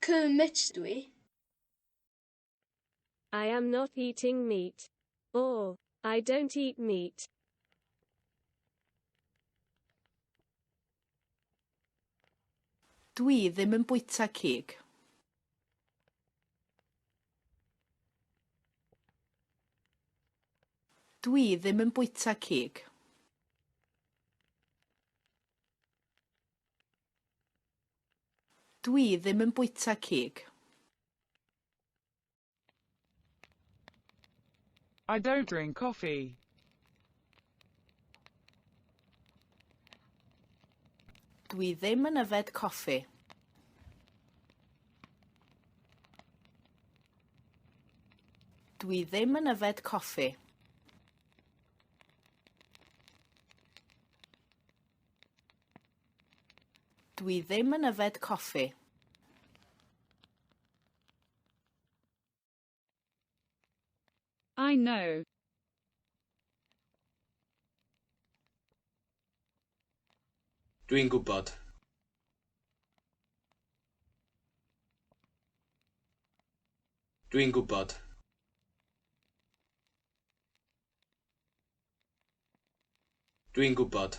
Kermit dw i. I am not eating meat. Or, I don't eat meat. Dw i ddim yn bwyta cig. Dw i ddim yn bwyta cig. Dwi ddim yn bwyta cig. I don't drink coffee. Dwi ddim yn yfed coffi. Dwi ddim yn yfed coffi. Dw i ddim yn yfed coffi. I know. Dw i'n gwybod. Dw i'n gwybod. Dw i'n gwybod.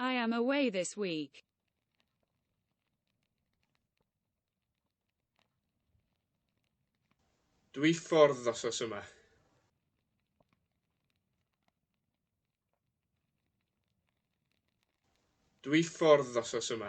I am away this week. Dwi ffordd ddosos yma. Dwi ffordd ddosos yma.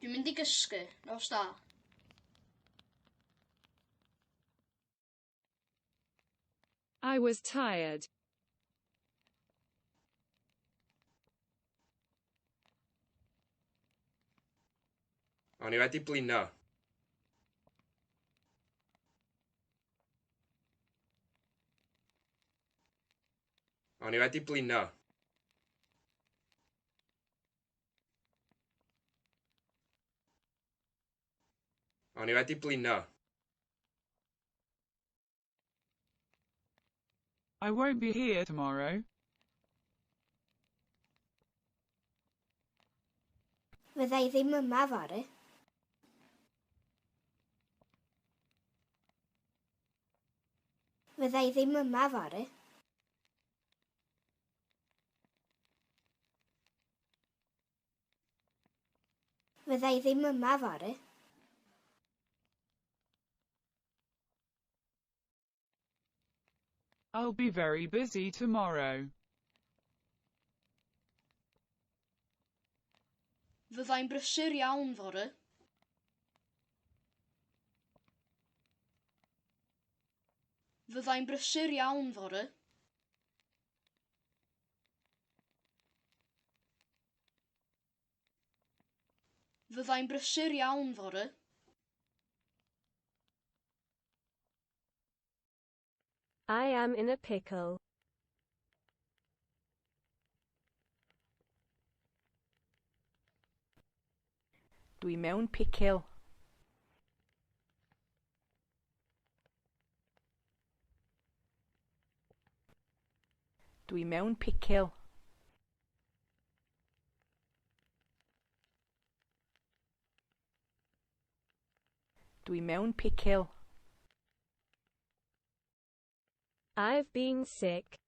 Dwi'n mynd i gysgu. Nos da. I was tired. O'n i wedi blino. O'n i wedi blino. O'n i wedi blino. I won't be here tomorrow. Fydda i ddim yma fory. Fydda i ddim yma fory. Fydda i ddim yma fory. I'll be very busy tomorrow. Fyddai'n brysur iawn fory. Fyddai'n brysur iawn fory. Fyddai'n brysur iawn fory. I am in a pickle. Dwi mewn picil. Dwi mewn picil. Dwi mewn picil. I've been sick.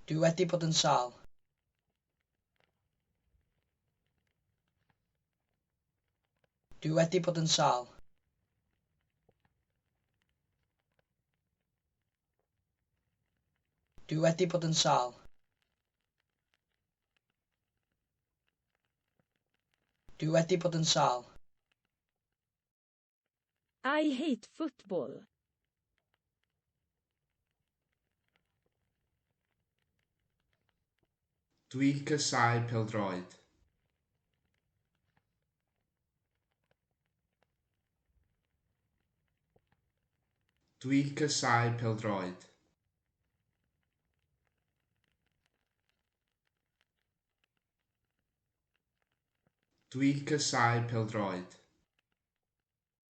Dwi wedi bod yn sâl. Dwi wedi bod yn sâl. Dwi wedi bod yn sâl. Dwi wedi bod yn sâl. I hate football. Dwi'n casáu pêl-droed. Dwi'n casáu pêl-droed. Dwi'n casáu pêl-droed.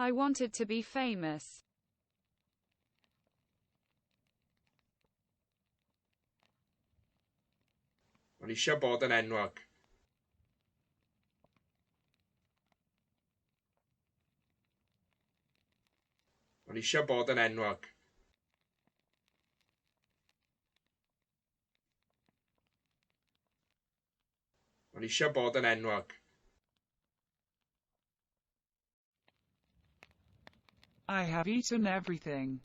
I wanted to be famous. O'n eisiau bod yn enwog. O'n eisiau bod yn enwog. O'n eisiau bod yn enwog. I have eaten everything.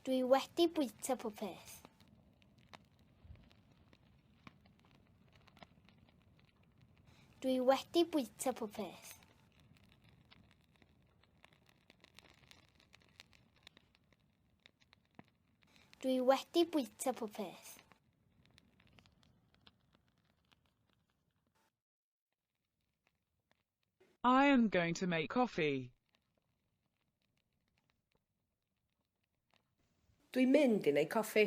Dwi wedi bwyta pob peth. Dwi wedi bwyta pob peth. Dwi wedi bwyta pob peth. I am going to make coffee. Dwi'n mynd i wneud coffi.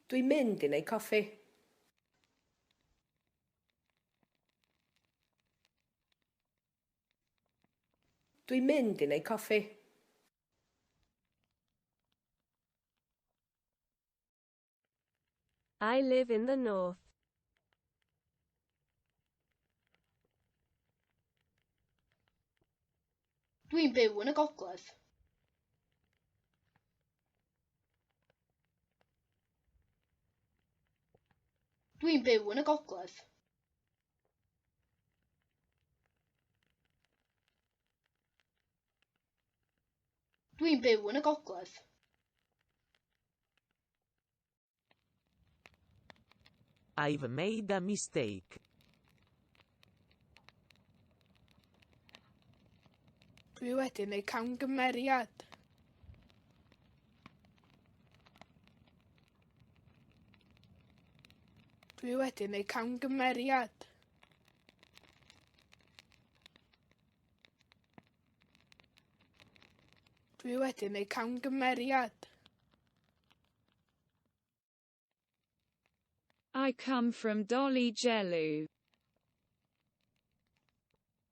Dwi'n mynd i wneud coffi. Dwi'n mynd i neud coffi. I live in the north. Dwi'n byw yn y gogledd. Dwi'n byw yn y gogledd. Dwi'n byw yn y gogledd. I've made a mistake. Dwi wedi neud camgymeriad. Dwi wedi neud camgymeriad. Dwi wedi neud camgymeriad. I come from Dolly Jellu.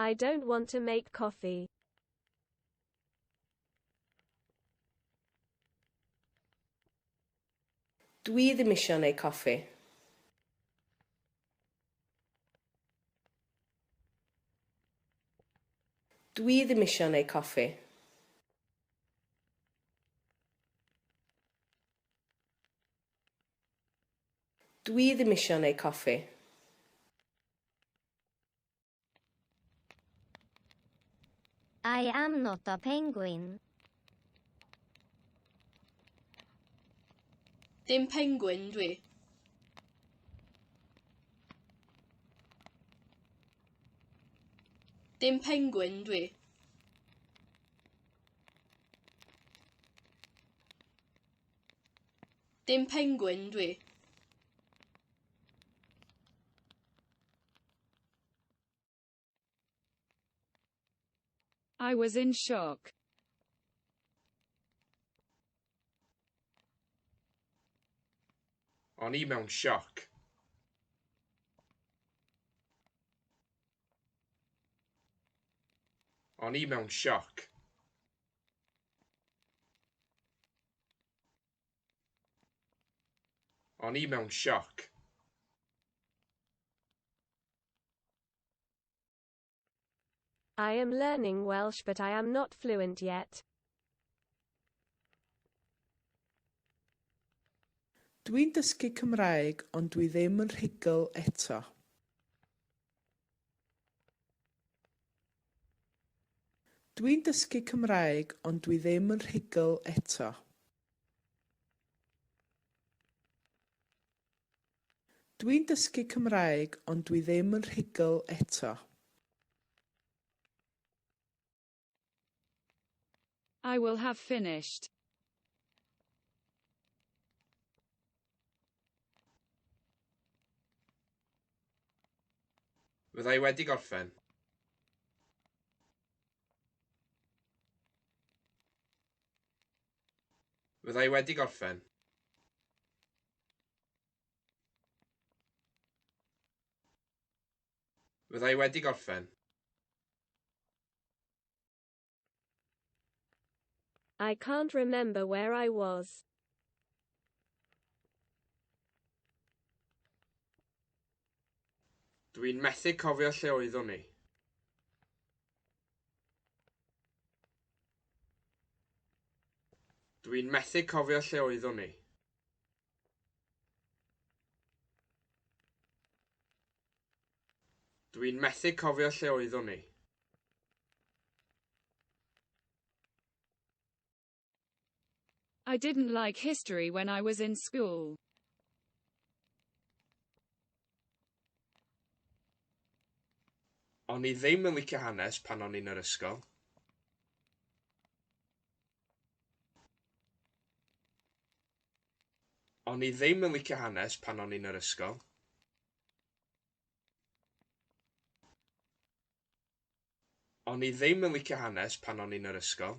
I don't want to make coffee. Dwi ddim eisiau neu coffi. Dwi ddim eisiau neu coffi. Dwi ddim isio neu coffi. I am not a penguin. Dim penguin dwi. Dim penguin dwi. Dim pengwin dwi. I was in shock. O'n i mewn sioc. O'n i mewn sioc. O'n i mewn sioc. I am learning Welsh but I am not fluent yet. Dwi'n dysgu Cymraeg ond dwi ddim yn rhugl eto. Dwi'n dysgu Cymraeg ond dwi ddim yn rhugl eto. Dwi'n dysgu Cymraeg ond dwi ddim yn rhugl eto. I will have finished. Fydda i wedi gorffen. Fydda i wedi gorffen. Fydda i wedi gorffen. I can't remember where I was. Dwi'n methu cofio lle oeddwn i. Dwi'n methu cofio lle oeddwn i. Dwi'n methu cofio lle oeddwn ni. I didn't like history when I was in school. O'n i ddim yn licio hanes pan o'n i'n yr ysgol. O'n i ddim yn licio hanes pan o'n i'n yr ysgol. O'n i ddim yn licio hanes pan o'n i'n yr ysgol.